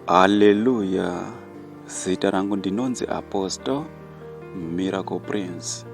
Haleluya! Zita rangu ndinonzi Apostle Miracle Prince.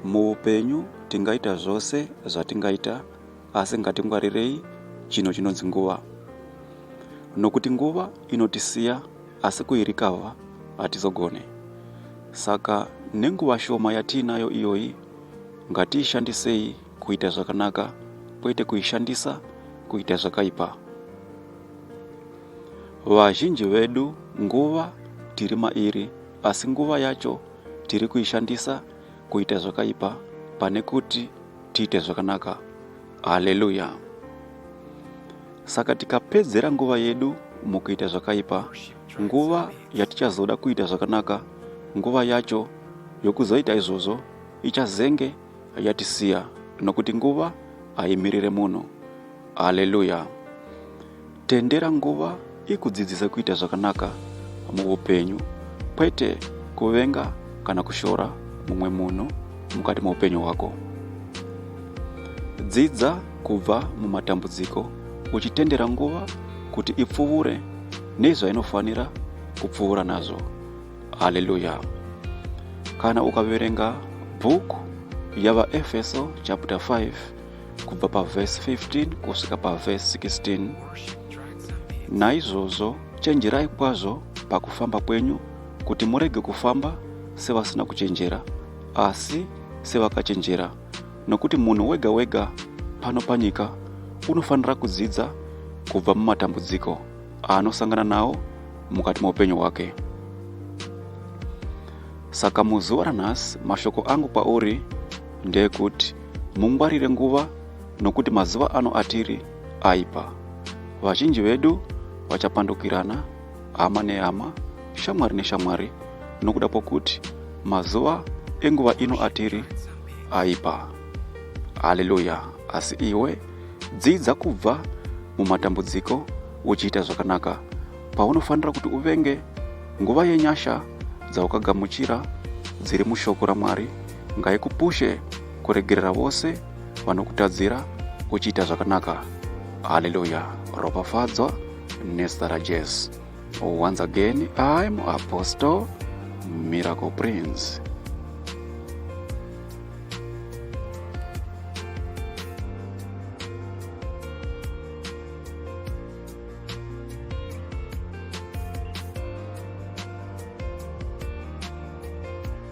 Muupenyu tingaita zvose zvatingaita asi ngatingwarirei chinhu chinonzi nguva nokuti nguva inotisiya asi kuirikavha hatizogone saka nenguva shoma yatiinayo iyoyi ngatiishandisei kuita zvakanaka kwete kuishandisa kuita zvakaipa vazhinji vedu nguva tiri mairi asi nguva yacho tiri kuishandisa kuita zvakaipa pane kuti tiite zvakanaka haleluya saka tikapedzera nguva yedu mukuita zvakaipa nguva yatichazoda kuita zvakanaka nguva yacho yokuzoita izvozvo ichazenge yatisiya nokuti nguva haimirire munhu Haleluya. Tendera nguva ikudzidzise kuita zvakanaka muupenyu kwete kuvenga kana kushora mumwe munhu mukati meupenyu hwako. Dzidza kubva mumatambudziko uchitendera nguva kuti ipfuvure nezvainofanira kupfuura nazvo. Haleluya. Kana ukaverenga bhuku yavaEfeso chapter 5 kubva pavhesi 15 kusvika pavhesi 16 naizvozvo chenjerai kwazvo pakufamba kwenyu kuti murege kufamba sevasina kuchenjera asi sevakachenjera nokuti munhu wega wega pano panyika unofanira kudzidza kubva mumatambudziko aanosangana nawo mukati meupenyu hwake saka muzuva ranhasi mashoko angu kwauri ndeekuti Mungwarire nguva nokuti mazuva ano atiri aipa. Vazhinji vedu vachapandukirana hama nehama, shamwari neshamwari nokuda kwokuti mazuva enguva ino atiri aipa. Haleluya! Asi iwe dzidza kubva mumatambudziko uchiita zvakanaka paunofanira kuti uvenge nguva yenyasha dzaukagamuchira dziri mushoko ramwari ngaikupushe kuregerera vose vanokutadzira uchiita zvakanaka haleluya ropafadzwa nezita rajesu once again im apostle miracle prince